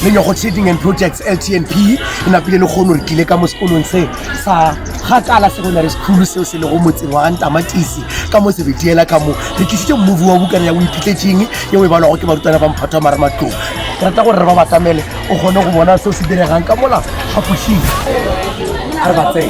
lenyogo trading and projects ltnp e napile le kgono re tlile ka mo sekolong se sa gakala secondary school seo se lego motseng wa gantamatisi ka mo sebediela ka mo re tlisitse mmovi wa bukana ya o iphitletseng ye o e balwago ke barutwana ba mphato wa marematlong ke rata gore re ba batamele o kgone go bona seo se diregang ka mola phapošing re ba tsee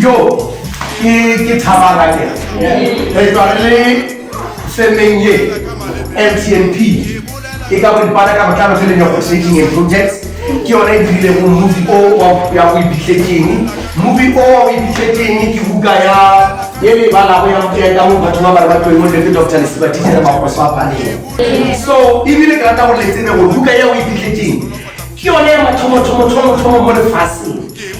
Yo, ke, ke thabana ke. Re tšwa re le femeng ye, MTNP, e ka boripana ka botlalo ke le negotiating and projects, ke yona e dirilego movie o wa ya go ibitlekeng. Movie o wa go ibitlekeng ke buka ya ye le e balago ya go ya ka mo batho ba bale ba tloeng mo le ke Doctor Lesiba Titšhere Magoso a paleng. So, ebile ke rata gore le tsebe gore buka ya go ibitlekeng ke yone ya mathomo-thomo-thomo-thomo mo lefaseng.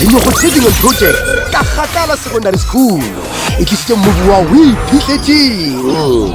Dinyogo tše dingwe project ka kgakala secondary school e tlisitše mobu wa o iphihletseng